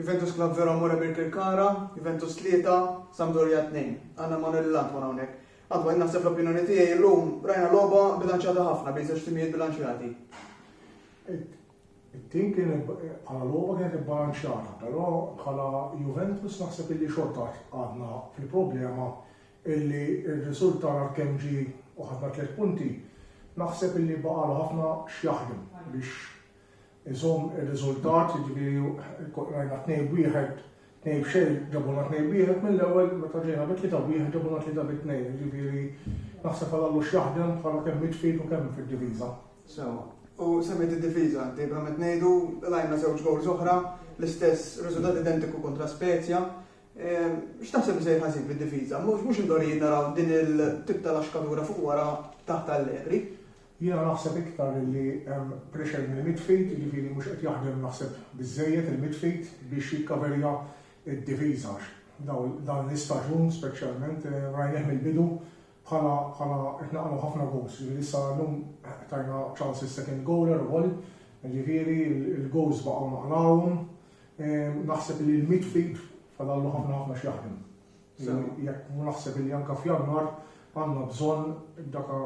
Juventus Club Vero Amore Birkirkara, Juventus 3, Sampdoria 2. Għandna Emanuele Lantman hawnhekk. Antman, jien naħseb l-opinjoni tiegħi llum rajna logħba bilanċjata ħafna bejn żewġ timijiet bilanċjati. It-tim kien bħala logħba kienet ibbalanċjata, però bħala Juventus naħseb illi xorta għadna fil-problema illi r-riżultat għal kemm ġie u ħadna tliet punti, naħseb illi baqalu ħafna x'jaħdem biex iżomm ir-riżultat, jiġifieri rajna tnejn b'wieħed, tnejn b'xejn, ġabulna tnejn b'wieħed mill-ewwel meta ġejna bi tlieta b'wieħed ġabulna tlieta bi tnejn, jiġifieri naħseb għal Allux jaħdem bħala kemm midfield u kemm fid-difiża. Sewwa. U semmejt id-difiża, dejblement ngħidu, qlajna żewġ gowls oħra, l-istess riżultat identiku kontra Spezia. Ehm, x'taħseb li se jħażin fid-difiża? Mhux mhux indorijiet naraw din il-tip tal-axkadura fuq wara taħt Allegri. Jiena naħseb iktar illi hemm pressure mill midfield, jiġifieri mhux qed jaħdem naħseb biżżejjed il midfield biex jikkaverja d-difiża għax dan l-istaġun speċjalment rajnieh mill-bidu bħala bħala qed naqgħu ħafna goals. Jiġifieri issa llum tajna ċans is-second goaler ukoll, jiġifieri l-goals baqgħu naqlgħuhom. Naħseb li l-midfield fadallu ħafna ħafna x'jaħdem. Jekk mhu naħseb li anke f'Jannar għandna bżonn daka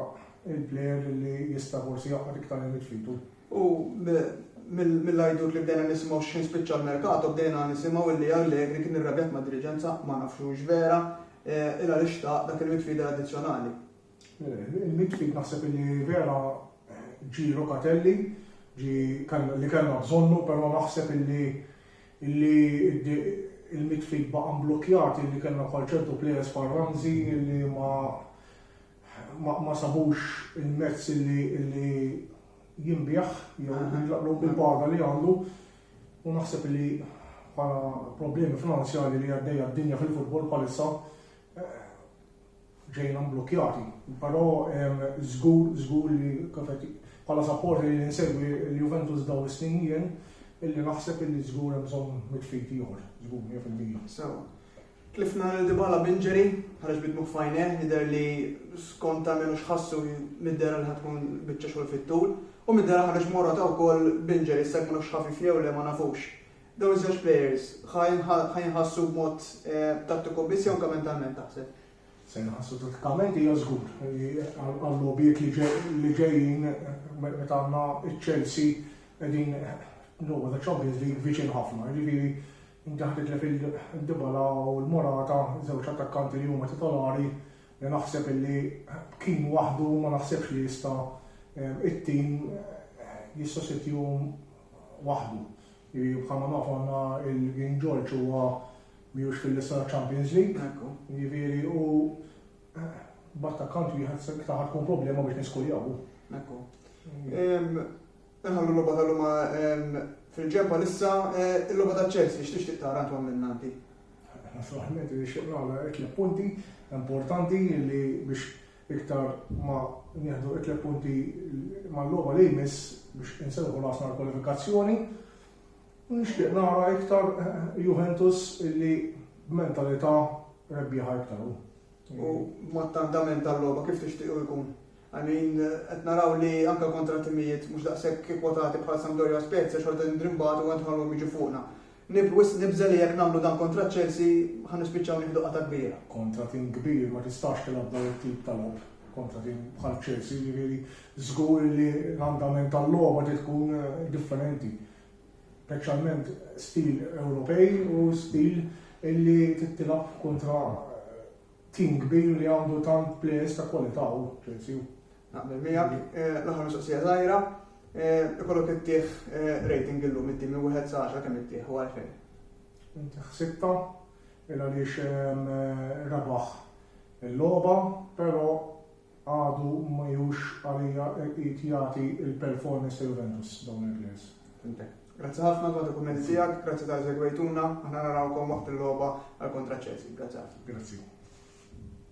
il-plejer li jista' forsi jaqgħad iktar il-midfield. U mill-għajdut li bdejna nisimgħu x'ħin spiċċa l-merkato bdejna nisimgħu illi Allegri kien irrabjat mad-diriġenza, ma nafx hux vera, il għaliex ta dak il-midfielder addizzjonali. Il-mit ftit naħseb li vera ġie Locatelli li kellna bżonnu però naħseb li il-mit ftit baqa' mblukkjat li kellna bħal ċertu players bħal Ramsey li ma sabux il-mezz li jinbiegħ jew jintlaqlu bil-paga li għandu u naħseb li bħala problemi finanzjarji li għaddejja d-dinja fil-futbol bħalissa ġejna mblukkjati. Però żgur, żgur li kif qed bħala supporter li nsegwi l-Juventus dawn is-snin jien, illi naħseb illi żgur hemm bżonn mit-tfid ieħor, żgur mija fil-mija. Sewwa. Tlifna lil Dybala b'injury, ħareġ bi dmugħ f'għajnejh, jidher li skont almenu x'ħassu mid-dehra li ħa tkun biċċa xogħol fit-tul. U mid-dehra ħareġ Morata wkoll b'injury, issa jekk mhux ħafif jew le ma nafux. Dawn iż-żewġ plejers ħa jinħassu b'mod tattiku biss jew anke mentalment taħseb? Se jinħassu tattikament hija żgur. Għal-logħbiet li ġejjin meta għandna ċ-Chelsea qegħdin logħba ta' Champions League viċin ħafna. Jiġifieri inti ħa titlef il-Dybala u l-Morata, żewġ attakkanti li huma titolari li naħseb illi kien waħdu ma naħsebx li jista' it-tim jissostitihom waħdu. Bħalma nafu aħna il-King George huwa mhijiex fil-lista taċ-Champions League. Ekku. Jiġifieri u b'attakkant wieħed se iktar ħa tkun problema biex niskuljawhu. Ekku. Inħallu l-logħba tal-lum fil-ġempa lissa l-logħba ta' Chelsea x'tixtieq tara int minn għandi. Naturalment nixtieq nagħmel tliet punti importanti li biex Iktar ma nieħdu it-tliet punti mal-logħba li jmiss biex inserrħu rasna għall-kwalifikazzjoni. Nixtieq nara iktar Juventus illi b'mentalità rebbieħa iktar hu. U mod ta' andament tal-logħba kif tixtiequ jkun? I mean, qed naraw li anke kontra timijiet mhux daqshekk kwotati bħal Sampdoria Spezia xorta ndrimbatu għandħalhom jiġu fuqna. Nib wisq nibża' li jekk nagħmlu dan kontra Chelsea ħa nispiċċaw nieħdu qatgħa kbira. Kontra tim kbir ma tistax tilgħab dan it-tip ta' logħob kontra tim bħal Chelsea, jiġifieri żgur li l-andament tal-logħba trid tkun differenti. Speċjalment stil Ewropej u stil illi trid tilgħab kontra tim kbir li għandu tant plejers ta' kwalità hu Chelsea hu. Naqbel miegħek, l-aħħar mistoqsija żgħira, ikollok ittih rating illum inti minn wieħed sa 10 kemm ittih u għalfejn? Intiħ sitta, il għaliex rebaħ il-logħba, però għadu ma jhux għalija qid jagħti l-performance ta' Juventus dawn il-players. Fimtek. Grazzi ħafna dwar il-kumment tiegħek, grazzi tal segwejtuna, aħna narawkom waqt il-logħba għal kontra Chelsea. Grazzi ħafna. Grazzi.